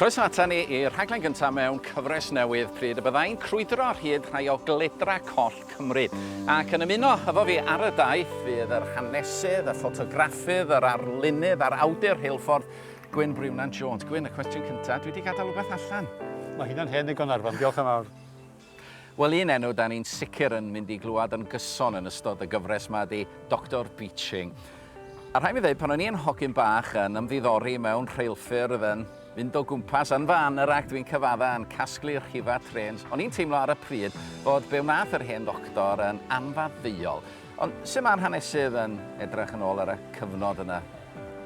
Croeso ata ni i'r rhaglen gyntaf mewn cyfres newydd pryd y byddai'n crwydro ar hyd rhai o gledra coll Cymru. Ac yn ymuno efo fi ar y daith fydd yr hanesydd, y ffotograffydd, yr arlunydd a'r awdur rheilffordd, Gwyn Briwnan Jones. Gwyn, y cwestiwn cyntaf, dwi wedi gadael rhywbeth allan. Mae hynna'n hen ddigon Arfon, diolch yn fawr. Wel un enw 'da ni'n sicr yn mynd i glywed yn gyson yn ystod y gyfres 'ma ydi Doctor Beeching. A rhaid mi ddeud, pan o'n i yn hogyn bach yn ymddiddori mewn rheilffyrdd, yn mynd o gwmpas yn fy anorac dwi'n cyfadda yn casglu rhifau trêns, o'n i'n teimlo ar y pryd fod be wnaeth yr hen ddoctor yn anfaddeuol. Ond sut mae'r hanesydd yn edrych yn ôl ar y cyfnod yna?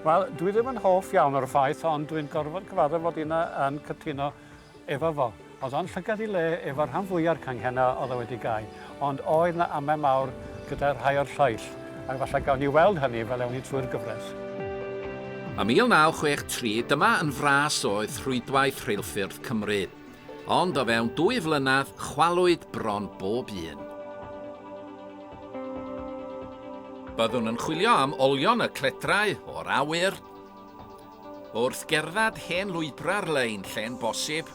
Wel, dwi ddim yn hoff iawn o'r ffaith, ond dwi'n gorfod cyfaddef fod inna yn cytuno. Efo fo. Oedd o'n llygad i le efo'r rhan fwya'r canghennau oedd o wedi gau, ond oedd 'na amau mawr gyda rhai o'r lleill, ac falle gawn ni weld hynny fel ewn ni trwy'r gyfres. Ym 1963 dyma yn fras oedd rhwydwaith rheilffyrdd Cymru, ond o fewn dwy flynedd chwalwyd bron bob un. Byddwn yn chwilio am olion y cledrau o'r awyr. Wrth gerdded hen lwybrau'r lein lle'n bosib,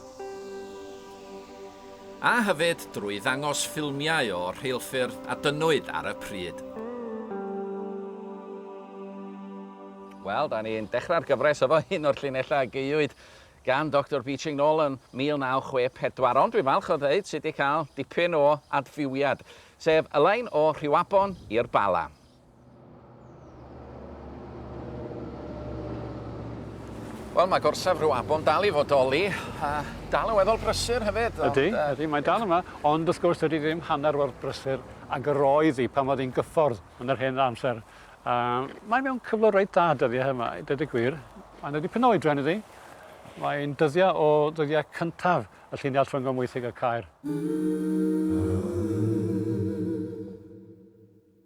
a hefyd drwy ddangos ffilmiau o'r rheilffyrdd a dynnwyd ar y pryd. Wel, da ni'n dechrau'r gyfres efo un o'r llinellau a gaewyd gan Doctor Beeching nôl yn 1964, ond dwi'n falch o ddeud sydd wedi cael dipyn o adfywiad, sef y lein o Rhiwabon i'r Bala. Wel, mae gorsaf rhyw afon dal i fodoli, a dal yn weddol brysur hefyd. Ydy, ond, uh, ydy, mae dal yma, ond wrth gwrs dydy ddim hanner o'r brysur ag yr oedd hi pan oedd hi'n gyffordd yn yr hen amser. Uh, mae mewn cyflwr reit dda dyddiau yma, dydw i gwir. Mae'n ydy pyn o oedran iddi. Mae'n dyddiau o ddyddiau cyntaf y lluniau llongomwythig y cair. Mm -hmm.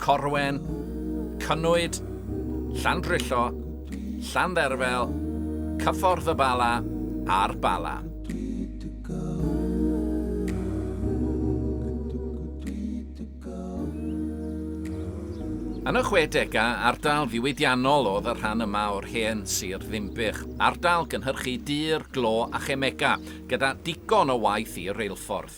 Corwen, Cynnwyd, Llandrillo, Llandderfel, Cyffordd y Bala a'r Bala. Yn y 60au, ardal ddiwydiannol oedd y rhan yma o'r hen sir Ddinbych, ardal gynhyrchu dur, glo a chemega, gyda digon o waith i reilffordd.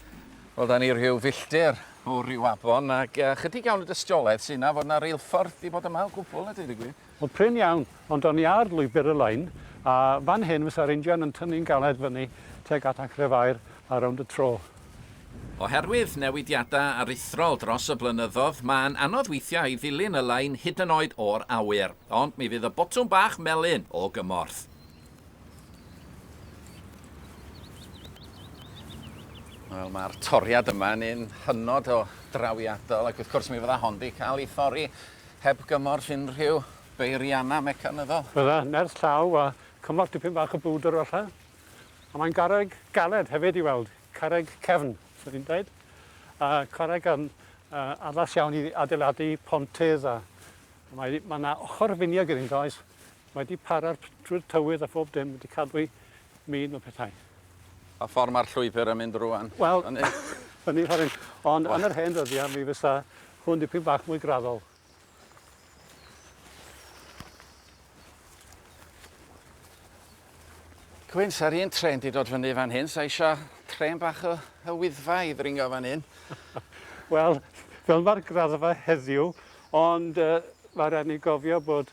Wel, 'da ni rhyw filltir o Riwabon ac yy chydig iawn o dystiolaeth sy' 'na fod 'na reilffordd 'di bod yma o gwbwl a deud y gwir. Wel, prin iawn, ond o'n i ar lwybr y lein, a fan hyn fysa'r injan yn tynnu'n galed fyny tuag at Anchrefair a rownd y tro. Oherwydd newidiadau aruthrol dros y blynyddoedd, mae'n anodd weithiau i ddilyn y lein hyd yn oed o'r awyr, ond mi fydd y botwm bach melyn o gymorth. Wel, mae'r toriad yma yn un hynod o drawiadol ac wrth gwrs mi fydda hon 'di cael ei thorri heb gymorth unrhyw beirianna mecanyddol. Fydda, nerth llaw a chymorth dipyn bach o bwdr falla. A mae'n garreg galed hefyd i weld, carreg cefn, swn i'n dweud. A carreg yn uh, addas iawn i adeiladu pontydd a mae mae 'na ochr finiog iddynt oes? Mae 'di para'r pridd tywydd a phob dim wedi cadw'i min o pethau. Pa ffordd mae'r llwybr yn mynd rŵan? Wel, yn eitha rhyng. Ond yn yr hen ddyddiau mi fysa hwn dipyn bach mwy graddol. Gwyn, sa'r un tren di dod fyny fan hyn, sa eisiau tren bach o, o wyddfa i ddringo fan hyn. Wel, fel mae'r graddfa heddiw, ond uh, mae rhaid ni gofio bod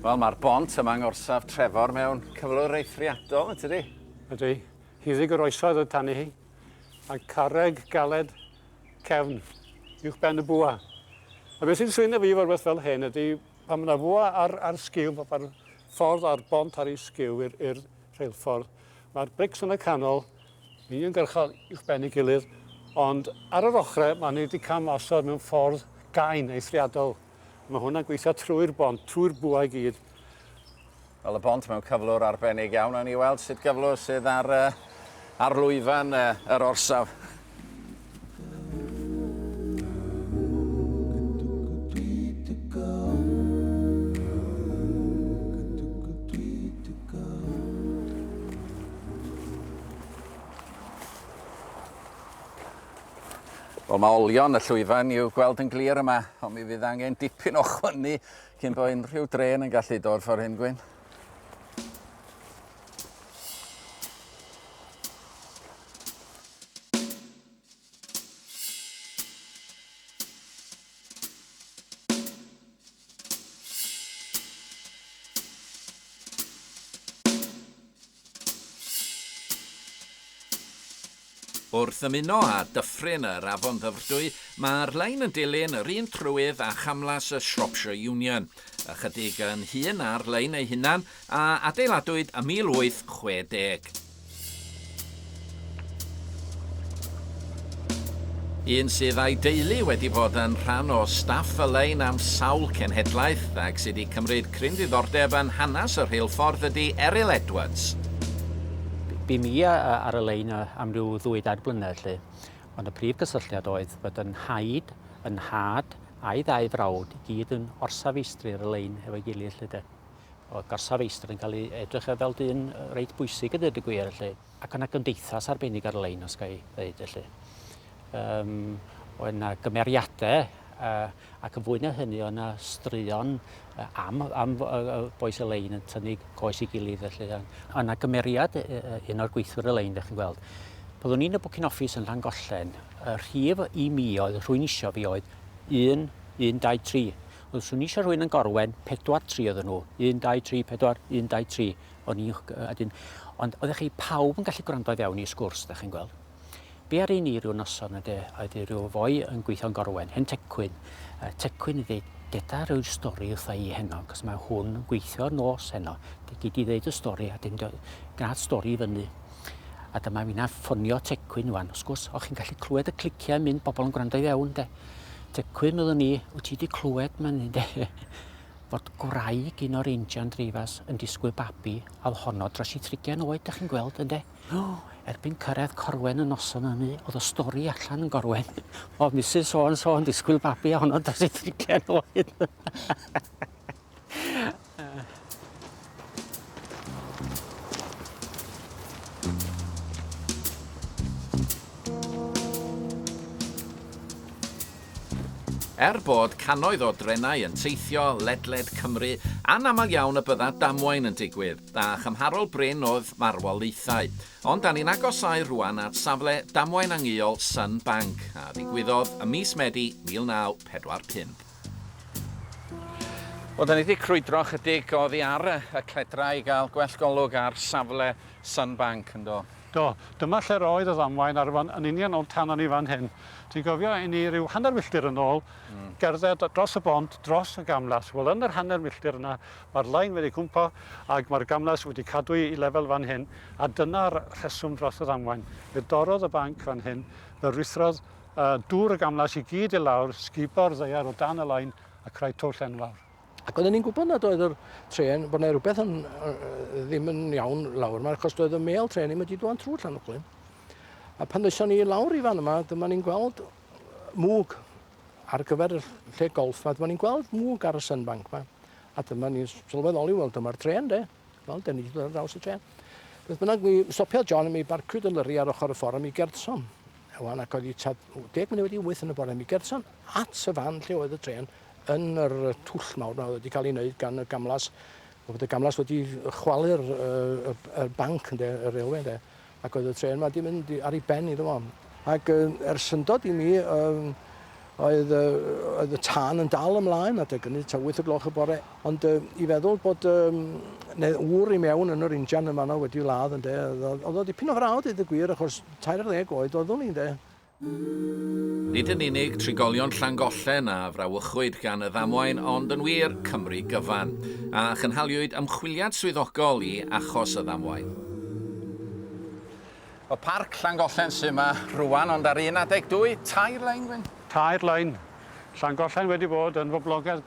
Wel ma'r bont yma yng Ngorsaf Trefor mewn cyflwr eithriadol yn tydi? Ydi. Hiddig yr oesoedd oedd tani hi. Mae carreg galed cefn uwch ben y bwa. A beth sy'n swyno fi fel rhywbeth fel hyn ydi pan mae yna fwa ar, ar sgil, ar ffordd a'r bont ar ei sgiw i'r urdd rheilffordd. Mae'r brics yn y canol, uniongyrchol uwchben ei gilydd, ond ar yr ochrau mae ni 'di cam osod mewn ffordd gain, eithriadol. Mae hwnna'n gweithio trwy'r bont, trwy'r bwa i gyd. Wel, y bont mewn cyflwr arbennig iawn. Awn ni weld sut gyflwr sydd ar, ar lwyfan yr orsaf. Wel, mae olion y llwyfan i'w gweld yn glir yma, ond mi fydd angen dipyn o chwynnu cyn bod unrhyw dren yn gallu dod ffordd hyn, Gwyn. Wrth ymuno â dyffryn yr Afon Ddyfrdwy, mae'r lein yn dilyn yr un trywydd â chamlas y Shropshire Union, ychydig yn hŷn na'r lein ei hunan, a adeiladwyd ym 1860. Un sydd a'i deulu wedi bod yn rhan o staff y lein am sawl cenhedlaeth ac sydd wedi cymryd cryn ddiddordeb yn hanes y rheilffordd ydy Eryl Edwards. Bu mi ar y lein am ryw ddwy dair blynedd 'lly, ond y prif gysylltiad oedd fod yn nhaid, yn nhad, a'i ddau frawd i gyd yn orsaf feistri ar y lein efo'i gilydd 'lly 'de. Oedd gorsaf feistr yn cael ei edrych ar fel dyn reit bwysig yn dweud y gwir felly. Ac yna gymdeithas arbennig ar lein os ga i ddeud felly. Um, oedd yna gymeriadau uh, ac yn fwy na hynny oedd yna straeon uh, am, am uh, boes y lein yn tynnu coes i gilydd felly. Oedd yna gymeriad uh, un o'r gweithwyr y lein, chi'n gweld. Byddwn ni'n y bwcyn office yn Llangollen, y rhif i mi oedd rhwy'n isio fi oedd 1, 1, 2, 3. Ond swn i eisiau rhywun yn gorwen pedwar tri oedden nhw. Un, dau, tri, pedwar, un, dau, tri. O'n i'n... a dyn... Ond oeddech chi pawb yn gallu gwrando i fewn i sgwrs, da chi'n gweld. Be ar un i rhyw noson ydy, oedd i rhyw foi yn gweithio'n gorwen, hen tecwyn. Uh, tecwyn ydy, deda rhyw stori wrtha i heno, cos mae hwn yn gweithio'r nos heno. Gei di ddeud y stori, a dyn gwnaeth stori i fyny. A dyma fi'n ffonio tecwyn wan. Os gwrs, o'ch chi'n gallu clywed y cliciau mynd, bobl yn gwrando i fewn, de. Tecwyn oeddwn i, wyt ti wedi clywed mae'n hyn de, fod gwraig un o'r injan dreifas yn disgwyl babi a oedd honno dros i trigen oed, da chi'n gweld ynde? O, erbyn cyrraedd Corwen y noson hynny, oedd y stori allan yn Gorwen. Oedd Mrs so and so yn disgwyl babi a honno dros i trigen oed. Er bod cannoedd o drenau yn teithio ledled Cymru, anaml iawn y bydda damwain yn digwydd, a chymharol brin oedd marwolaethau. Ond da ni'n agosau rwan at safle damwain angyol Sun Bank, a ddigwyddodd ym mis Medi 1945. Wel, da ni wedi crwydro ychydig oddi ar y cledrau i gael gwell golwg ar safle Sunbank, yn do? Do, dyma lle'r oedd y ddamwain ar y fan yn union o'n tanom ni fan hyn. Ti'n cofio i ni ryw hanner milltir yn ôl, gerdded dros y bont, dros y gamlas? Wel, yn yr hanner milltir yna, mae'r lein wedi cwmpo ac mae'r gamlas wedi cadw'i lefel fan hyn, a dyna'r rheswm dros y ddamwain. Fe dorrodd y banc fan hyn, fe ruthrodd A dŵr y gamlas i gyd i lawr, sgubo'r ddaear o dan y lain a creu twll enfawr. Ac oedden ni'n gwybod nad oedd yr trên, bod 'na rhywbeth yn, ddim yn iawn lawr yma, achos doedd y mêl trên ddim wedi dŵan trwy Llanuwchllyn. A pan ddeison ni lawr i fan yma, dyma ni'n gweld mwg ar gyfer y lle golf 'ma. Dyma ni'n gweld mwg ar y sunbank 'ma. A dyma ni'n sylweddoli, wel dyma'r trên de. Wel, da ni wedi dod ar draws y tre. Beth bynnag, mi stopiodd John a mi barcwyd y lyri ar ochr y ffordd a mi gertson. Ewan ac oedd i tad 10 munud wedi wyth yn y bore. Mi gertson at y fan lle oedd y tren yn yr twll mawr na oedd wedi cael ei wneud gan y gamlas. Oedd y gamlas wedi chwalu'r uh, y, y banc, ynde, y railway, ynde. Ac oedd y trên 'ma 'di mynd i- ar ei ben iddo fo. Ac yy er syndod i mi yym oedd yy oedd y tân yn dal ymlaen adeg ynny tua wyth y gloch y bore ond yy i feddwl bod yym ne' ŵr i mewn yn yr injan yn fanno wedi ladd ynde o'dd o o'dd o ddipyn o frau deud y gwir achos tair ar ddeg oed oeddwn i ynde? Nid yn unig trigolion Llangollen a frawychwyd gan y ddamwain ond yn wir, Cymru gyfan. A chynhaliwyd ymchwiliad swyddogol i achos y ddamwain. Mae Parc Llangollen sy' 'ma rŵan ond ar un adeg dwy, tair lein, Gwyn? Tair lein. Llangollen wedi bod yn boblogaidd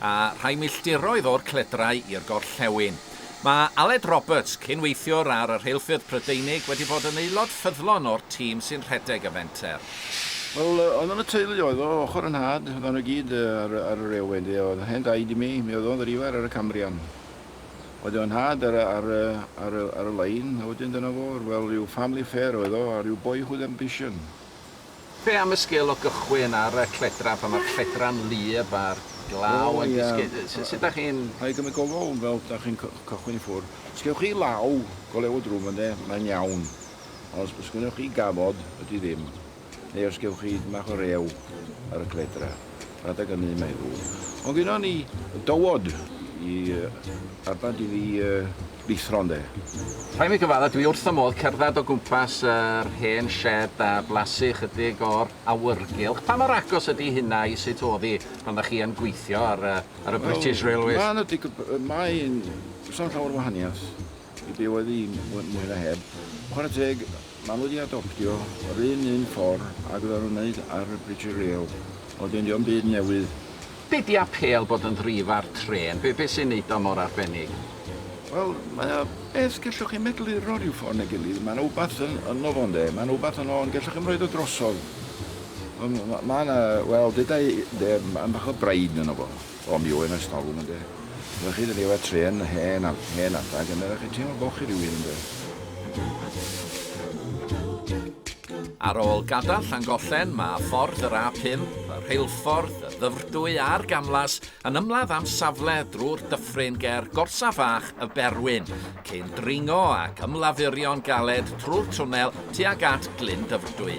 a rhai milltiroedd o'r cledrau i'r gorllewin. Mae Aled Roberts, cyn-weithiwr ar y rheilffyrdd Prydeinig, wedi bod yn aelod ffyddlon o'r tîm sy'n rhedeg y fenter. Wel, oedd yn y teulu oedd o, ochr 'y nhad, oeddan nhw i gyd ar y railwê ynde, oedd yn hen daid i mi, mi oedd o'n ddrifair ar y Cambrian. Oedd fy nhad ar y lein, a wedyn dyna fo, wel, rhyw family affair oedd o, a rhyw boyhood ambition. Be am y sgil o gychwyn ar y lledra pan mae'r lledra'n wlyb a'r glaw yn disgyn? Sut dach chi'n...? Rhaid cymryd gofal fel dach chi'n cychwyn i ffwrdd. Os gewch chi law go lew o drwm ynddo, mae'n iawn. Ond os gynnoch chi gafod, ydy ddim. Neu os gewch chi dipyn bach o rew ar y lledra, rhaid ag ynny mae ddrwg. Ond gynnon ni dywod i arbad i fi yy. Llithron de. Rhaid mi gyfadda, dwi wrth fy modd cerdded o gwmpas yr hen sied a blasu chydig o'r awyrgylch. Pa mor agos ydi hynna i sut o'dd 'i pan dach chi yn gweithio ar y ar y British Railways? Wel, ma' 'na dig- yy mae'n... Does na'm llawer o wahaniath i be' oedd 'i mwy mwy na heb. Chware teg, ma' nhw 'di adoptio yr un un ffor ag oddan nhw'n neud ar y British Rail, a wedyn 'di o'm byd newydd. Be di apêl bod yn ddrif ar trên? Be, be sy'n neud o mor arbennig? Wel, mae o beth gellwch chi medru rho rhyw ffor neu gilydd, ma' na wbath yn yno fo ynde, ma' na wbath yno ond gellwch chi'm roid o drosodd. Wel m- m- ma' na, wel deda i ynde, ma' bach o bride yno fo, o mi oedd 'na storwm ynde. Oddech chi dydi efo trên hen a- hen adag ynde, oddech chi'n teimlo bo chi rywun ynde. Ar ôl gadael Llangollen, mae ffordd yr A5, y rheilffordd, y Ddyfrdwy a'r gamlas yn ymladd am safle drwy'r dyffryn ger Gorsaf Fach y Berwyn, cyn dringo ac ymlafurio'n galed trwy'r twnnel tuag at Glyn Dyfrdwy.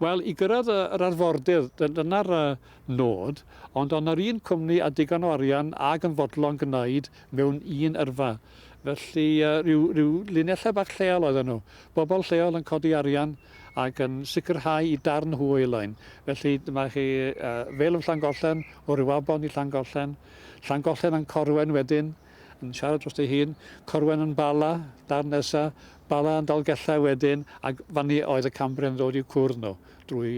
Wel, i gyrraedd yr arfordir, dyna'r nod, ond ond yr un cwmni a digon o arian ag yn fodlon gwneud mewn un yrfa. Felly rhyw rhyw linellau bach lleol oedden nhw. Bobl lleol yn codi arian ac yn sicrhau i darn hwyl ein. Felly dyma chi Vale of Llangollen, o Rhiwabon i Llangollen, Llangollen yn Corwen wedyn, yn siarad drosti ei hun, Corwen yn Bala, darn nesa, Bala yn Dalgellau wedyn, ac fanny oedd y Cambrian yn dod i'w cwrdd nhw, drwy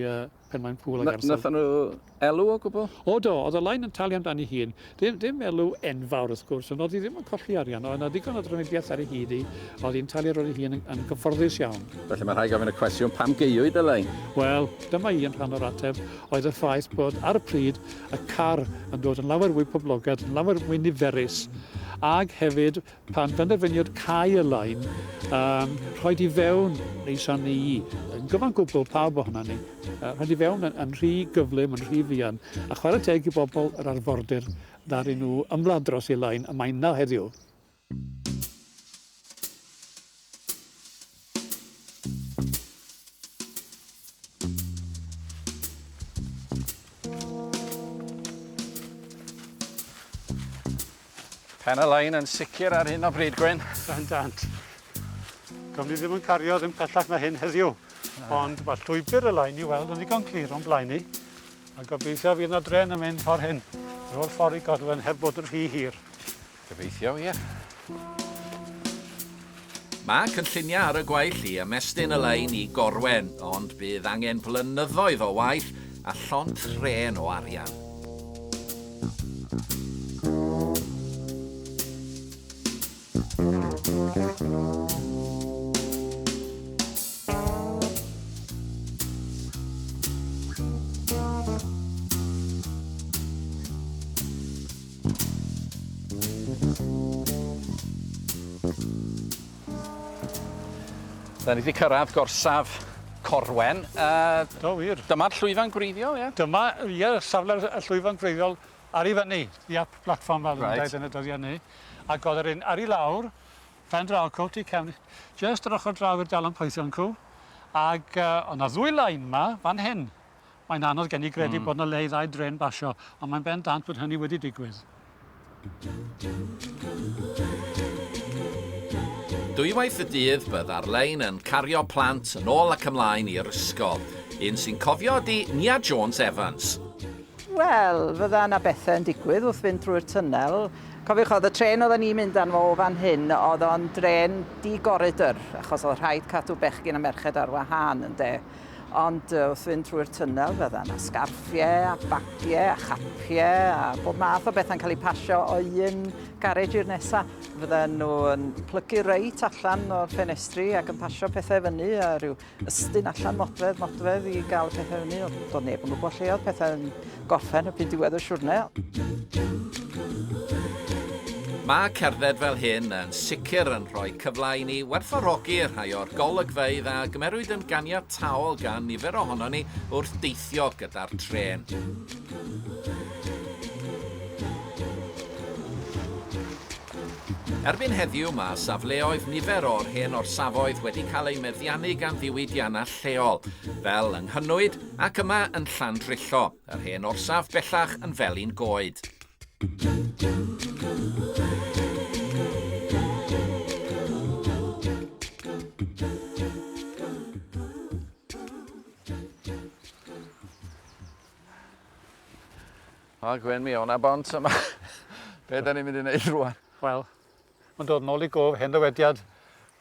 Penmaen Pŵl ac Arthur. Nathon nhw elw o gwbl? O do, oedd y Lain yn talu am dan ei hun. Ddim, ddim elw enfawr wrth gwrs, ond oedd hi ddim yn colli arian, oedd 'na ddigon o drafnidiaeth ar ei hyd hi, oedd hi'n talu ar ôl ei hun yn, yn gyfforddus iawn. Felly mae rhai gofyn y cwestiwn, pam geuwyd y Lain? Wel, dyma un rhan o'r ateb, oedd y ffaith bod ar y pryd y car yn dod yn lawer fwy poblogaidd, yn lawer mwy niferus, ag hefyd Pan benderfyniwyd cau y lein a'n rhoid i fewn ei shan ni'i, yn gyfan gwbl pawb ohonan ni, rhoid i fewn yn rhy gyflym, yn rhy fuan, a chwarae teg i bobl yr arfordir, ddaru nhw ymladd dros ei lein a mae'n 'na heddiw. Pen y lein yn sicr ar hyn o bryd, Gwyn. Bendant. Gwn ni ddim yn cario ddim pellach na hyn heddiw. Ond mae llwybr y lein i weld yn ddigon clir o'n blaen ni. A gobeithio fydd yna dren yn mynd ffordd hyn. Ro'r ffordd i Godwen heb bod yn rhy hir. Gobeithio, ie. Mae cynlluniau ar y gwaill i ymestyn y lein i Gorwen, ond bydd angen blynyddoedd o waith a llond trên o arian. Da ni 'di cyrraedd gorsaf Corwen. Yy... Do wir. Dyma'r llwyfan gwreiddiol ie? Dyma ie safle'r y llwyfan gwreiddiol ar 'i fyny the up platform fel reit. Reit. yn y dyddia ny ac o'dd yr un ar 'i lawr pen draw cw ti cefn jyst yr ochor draw i'r dalan poethion cw ag yy o' 'na ddwy lain 'ma fan hyn. Mae'n anodd gen i gredu bod 'na le i ddau drên basio, ond mae'n bendant bod hynny wedi digwydd. Dwywaith y dydd bydd Arlein yn cario plant yn ôl ac ymlaen i'r ysgol. Un sy'n cofio ydi Nia Jones Evans. Wel, fydda yna bethe yn digwydd wrth fynd drwy'r tunnel. Cofiwch, oedd y trên oedden ni'n mynd arno fo o fan hyn, oedd o'n drên di-goridr, achos oedd rhaid cadw bechgyn a merched ar wahân, ynde. Ond yy wrth fynd trwy'r tunnel fydda yna sgarffiau a bagiau a chapiau a bob math o bethau'n cael eu pasio o un garej i'r nesa. Fydden nhw yn plygu reit allan o'r ffenestri ac yn pasio pethau fyny a rhyw ystyn allan modfedd modfedd i gael y pethau fyny. Doedd neb yn gwybod lle oedd pethau yn Gorffen y pin diwedd y siwrne. Mae cerdded fel hyn yn sicr yn rhoi cyfle i ni werthfawrogi rhai o'r golygfeydd a gymerwyd yn ganiataol gan nifer ohonon ni wrth deithio gyda'r trên. Erbyn heddiw mae safleoedd nifer o'r hen orsafoedd wedi cael eu meddiannu gan ddiwydiannau lleol, fel yng Nghynwyd ac yma yn Llandrillo, yr hen orsaf bellach yn Felin Goed. O Gwen mi o' 'na bont yma. Be' 'dan ni'n mynd i neud rŵan? Wel, ma'n dod nôl i gof hen ddywediad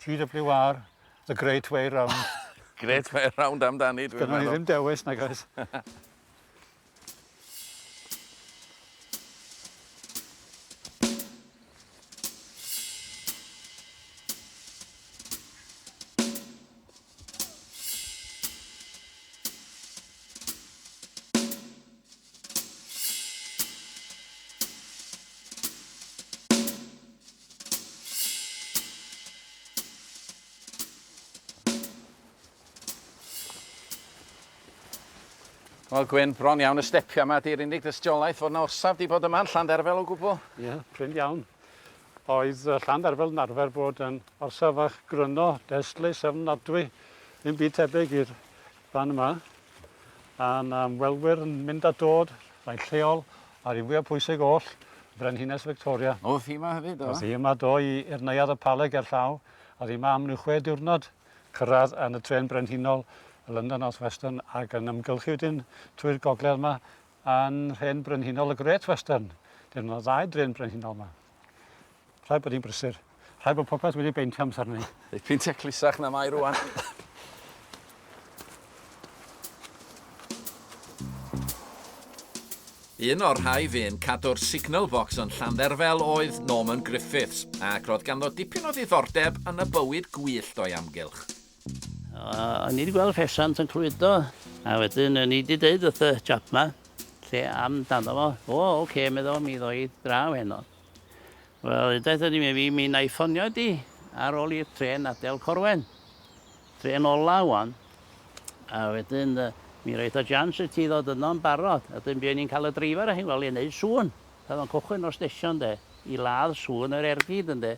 GWR, the great way round. Great way round amdani dwi'n meddwl. Gynno ni ddim dewis nag oes? Wel Gwyn, bron iawn y stepia yma, di'r unig dystiolaeth fod yna orsaf di bod yma yn Llandderfel o gwbl. Ie, yeah, prin iawn. Oedd Llandderfel yn arfer bod yn orsaf fach gryno, destlus, ofnadwy, ddim byd tebyg i'r Fan yma, a'n ymwelwyr yn mynd a dod, rhai'n lleol, a'r un fwyaf pwysig oll, Frenhines Victoria. O'dd hi yma hefyd, do? O'dd hi yma, do, i i'r neuadd y Pala ger llaw, a o'dd hi yma am ryw chwe diwrnod, cyrraedd yn y trên brenhinol, y London North Western, ac yn ymgylchu wedyn trwy'r gogledd yma yn nhrên brenhinol y Great Western. Dim ond ddau drên brenhinol yma. Rhaid bod hi'n brysur. Rhaid bod popeth wedi beintio amser ni. Ei peintio clusach na mae rwan. Un o'r rhai fu'n cadw'r signal box yn Llandderfel oedd Norman Griffiths, ac roedd ganddo dipyn o ddiddordeb yn y bywyd gwyllt o'i amgylch. O'n ni 'di gweld ffesiant yn clwydo, a wedyn o'n i 'di deud wrth y chap 'ma lle amdano fo. O ok, medda fo, mi ddoi draw heno. Wel, hyddaeth o'n i mi fi, mi 'nai ffonio di ar ôl i'r trên adel Corwen. Trên ola ŵan. A wedyn yy mi roith o jians i ti ddod yno yn barod, a 'dyn buon ni'n ca'l y dreifar â hi'n wely yn neud sŵn. O'dd o'n cychwyn o'r stesion 'de, i ladd sŵn yr ergyd ynde.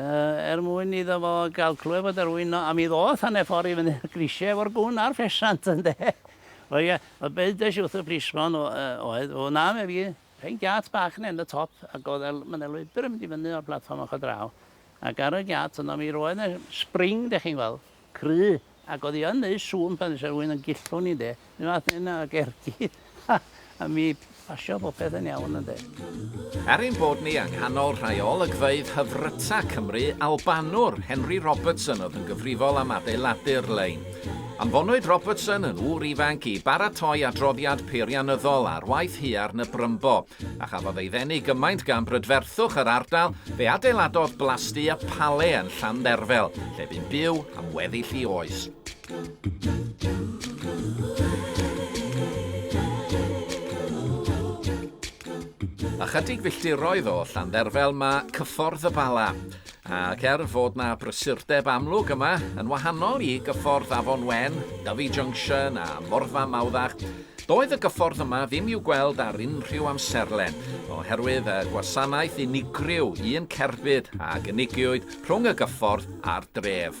er mwyn iddo fo gael clywed fod yr ŵyn 'no, a mi ddoth hanner ffordd i fyny'r grisiau efo'r gwn a'r ffesant, ynde. O ia, y byddes i wrth y plismon oedd, o na, meddai hi, rhoi giât bach nen y top, ac oedd y... ma' 'na lwybr yn mynd i fyny o'r platfform ochr draw, ac ar y giât yno mi roedd 'na spring, dach chi'n gweld. Cry, ac o'dd 'i yn neud sŵn pan ddesa rywun yn gillwng 'i 'nde, 'r un fath hynna ag ergyd a a mi basio bopeth yn iawn ynde. Er ein bod ni yng nghanol rhai o olygfeydd hyfryta Cymru, Albanwr Henry Robertson oedd yn gyfrifol am adeiladu'r lein. Anfonwyd Robertson yn ŵr ifanc i baratoi adroddiad peirianyddol ar waith Huarn y Brymbo. a chafodd ei ddenu gymaint gan brydferthwch yr ardal, fe adeiladodd blasdy a pale yn Llandderfel, lle bu'n byw am weddill i oes. Ychydig filltiroedd o Llandderfel mae Cyffordd y Bala. Ac er fod 'na brysurdeb amlwg yma, yn wahanol i gyffordd Afon Wen, Dyfi Junction a Morfa Mawddach, doedd y gyffordd yma ddim i'w gweld ar unrhyw amserlen, oherwydd y gwasanaeth unigryw un cerbyd a gynigiwyd rhwng y gyffordd a'r dref.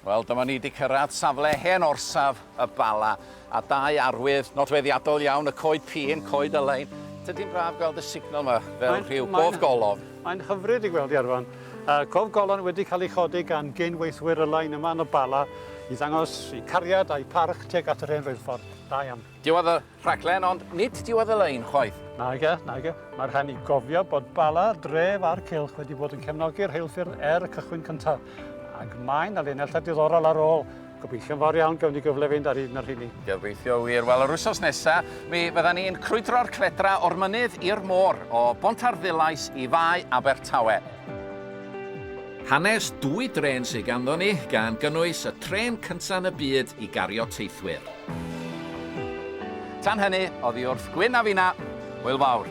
Wel, dyma ni 'di cyrraedd safle hen orsaf y Bala, a dau arwydd nodweddiadol iawn, y coed pîn, coed Elain. Tydi'n braf gweld y signal yma fel rhyw gof golofn. Mae'n hyfryd i gweld, Iarfon. Cof golofn wedi cael ei chodi gan gyn-weithwyr Elain yma yn y Bala i ddangos eu cariad a'u parch tuag at yr hen reilffordd. Da iawn. Diwedd y Rhaglen ond nid diwedd y lein chwaith. Nage, nage. Mae rhaid ni gofio bod Bala, dref a'r cylch wedi bod yn cefnogi rheilffyrdd er y cychwyn cyntaf. Ac mae na linellau diddorol ar ôl. Gobeithio'n fawr iawn gawn ni gyfle fynd ar un o'r rheini. Gobeithio wir. Wel, yr wythnos nesa, mi fyddan ni'n crwydro'r cledra o'r mynydd i'r môr, o Bont Arddulais i Fae Abertawe. Hanes dwy drên sydd ganddo ni, gan gynnwys y trên cyntaf yn y byd i gario teithwyr. Tan hynny, oddi wrth Gwyn a finna. Hwyl fawr.